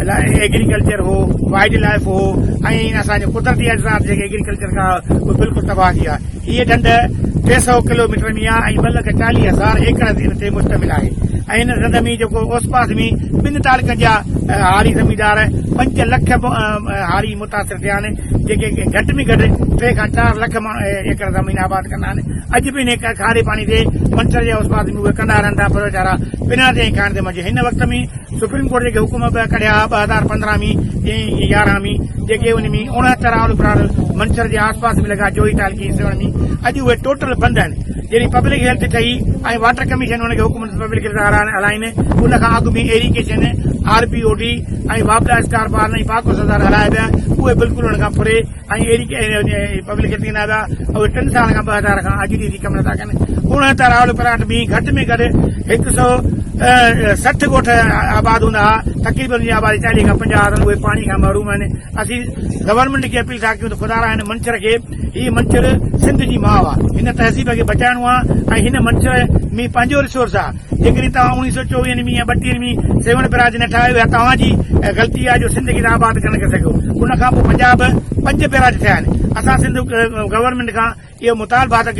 Agriculture هو wildlife هو ۽ اسان جا قدرتي اجزات جيڪي ايگريڪلچر کان اهي بلڪل تباهه ٿي ويا هيء ڍنڍ ٽي سؤ ڪلوميٽر ۾ آهي ۽ ٻه لک چاليهه هزار ايڪڙ هن تي مشتمل آهي ۽ هن ڍنڍ ۾ جيڪو اوس پاس ۾ ٻن تعلقن جا هاري زميندار پنج لک هاري متاثر ٿيا آهن جيڪي گهٽ ۾ گهٽ ٽي کان چار لک ايڪڙ زمين آباد ڪندا آهن اڄ به انهي کاري پاڻي تي منڇر جي اوس پاس ۾ اهي ڪندا رهن ٿا پر ويچارا بنا تي ڪانه ٿي منجهي هن وقت ۾ سپريم ڪورٽ جيڪي حڪم به ڪڍيا ٻه هزار پندرهن ۾ ٽين ۽ يارهن ۾ جيڪي ان ۾ اڻهتر آل ابرار منڇر جي آس پاس ۾ لڳا جوهي تعلقي جي سيوهڻ ۾ اڄ اهي ٽوٽل بند آهن جڏهن پبلڪ هيلٿ ٺهي ۽ واٽر ڪميشن ان کي حڪم ڏنو ته پبلڪ هيلٿ هارائڻ هلائين ان کان اڳ ۾ irrigation R P O D ۽ واپڊا اسڪار بارن ۽ پاڪوس هزار هلايا ويا اهي بلڪل ان کان پري ۽ اهڙي ڪنهن پبلڪ کي ڏيندا هئا ته اهي ٽن سالن کان ٻه هزار کان اڄ ڏينهن جي ڪم نٿا ڪن. اڻ ته راهول پراٽ ۾ گهٽ ۾ گهٽ هڪ سؤ سٺ ڳوٺ آباد هوندا هئا، تقريبن ان جي آبادي چاليهه کان پنجاهه هزار اهي پاڻي کان محروم آهن. اسين گورنمينٽ کي اپيل ٿا ڪيون ته خدارا هن منڇر کي هي منڇر سنڌ جي ماء آهي هن تهذيب کي بچائڻو آهي ۽ هن منڇر ۾ پنهنجو رسورس آهي. جيڪڏهن توهان اوڻيهه سؤ چوويهن ۾ يا ٻٽيهن ۾ سيوهڻ بئراج نه ٺاهيو اها توهان جي غلطي آهي جو سنڌ کي توهان آباد ڪرڻ ڪري سگهيو ان کان پوء پنجاب به پنج بئراج ٺهيا آهن اسان سنڌ گورنمينٽ کان اهو مطالبه ٿا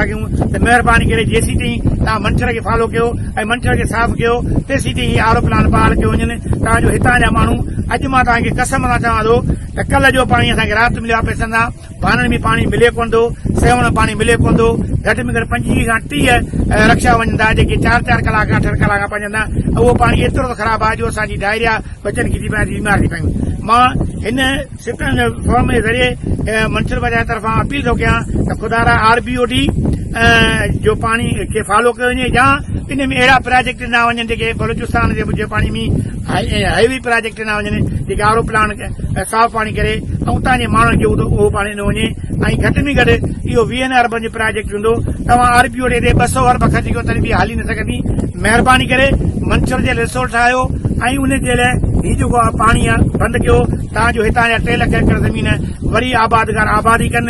ڪيون ته مهرباني ڪري جيسين تائين توهان منڇر کي فالو ڪيو ۽ منڇر کي صاف ڪيو تيسين تائين هي آر او پلانٽ بحال ڪيو وڃن تان جو هتان جا ماڻهو اڄ مان توهان کي قسم سان چوان ٿو ته ڪلهه جو پاڻي اسان کي رات مليو آهي پئسن سان ڀانن ۾ پاڻي ملي ڪونه ٿو، سيوهڻ ۾ پاڻي ملي ڪونه ٿو، گهٽ ۾ گهٽ پنجويهه کان ٽيهه رڪشا وڃن ٿا، جيڪي چار چار ڪلاڪ کان اٺن ڪلاڪ کان پهچن ٿا ۽ اهو پاڻي ايترو ته خراب آهي جو اسان جي ڊائريا ٻچن کي ٿي پوي ۽ بيمار ٿي پيون. مان هن سٽن فورم جي ذريعي منسپل پنچائت طرفان اپيل ٿو ڪيان ته خدارا آر بي او ڊي جو پاڻي کي فالو ڪيو وڃي يا ان ۾ اهڙا پراجيڪٽ ڏنا وڃن جيڪي بلوچستان جي پاڻي ۾ هاء وي پراجيڪٽ ڏنا وڃن جيڪي آر او پلانٽ ۽ صاف پاڻي ڪري ۽ اتان جي ماڻهن کي اهو پاڻي ڏنو وڃي ۽ گهٽ ۾ گهٽ اهو ويهن اربن جو پراجيڪٽ هوندو توهان آر پي او ڏي تي ٻه سؤ ارب خرچ ڪيو تڏهن به اها هلي نه سگهندي مهرباني ڪري منڇر جي رسورٽ ٺاهيو ۽ ان جي لاء هي جيڪو پاڻي بند ڪيو تان جو هتان جا ٽي لک ايڪڙ زمين وري آبادگار آبادي ڪن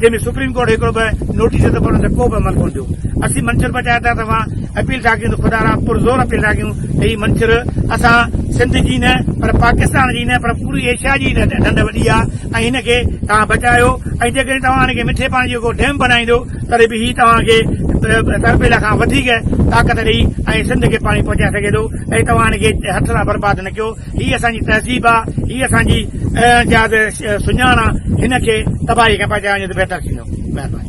جنهن ۾ سپريم ڪورٽ هڪڙو به نوٽيس ته انهن تي ڪو به عمل ڪونه ٿيو اسين منڇر بچايا ٿا ته اوهان اپيل ٿا ڪيون ته خدا را پر زور اپيل ٿا ڪيون ته هي منڇر اسان سنڌ جي نه پر پاڪستان جي نه پر پوري ايشيا جي نه ڍنڍ وڏي آ ۽ هن کي توهان بچايو ۽ جيڪڏهن توهان هن کي مٺي پاڻي جو ڪو ڊيم بنائيندو تڏهن به هي توهان کي تربيلا کان وڌيڪ طاقت ڏئي ۽ سنڌ کي پاڻي پهچائي سگهي ٿو ۽ توهان هن کي هٿ سان برباد نه ڪيو هي اسان جي تهذيب آ، هي اسان جي جاز سڃاڻ آ، هن کي تباهي کان بچائڻ جو ته بهتر ٿيندو. مهرباني.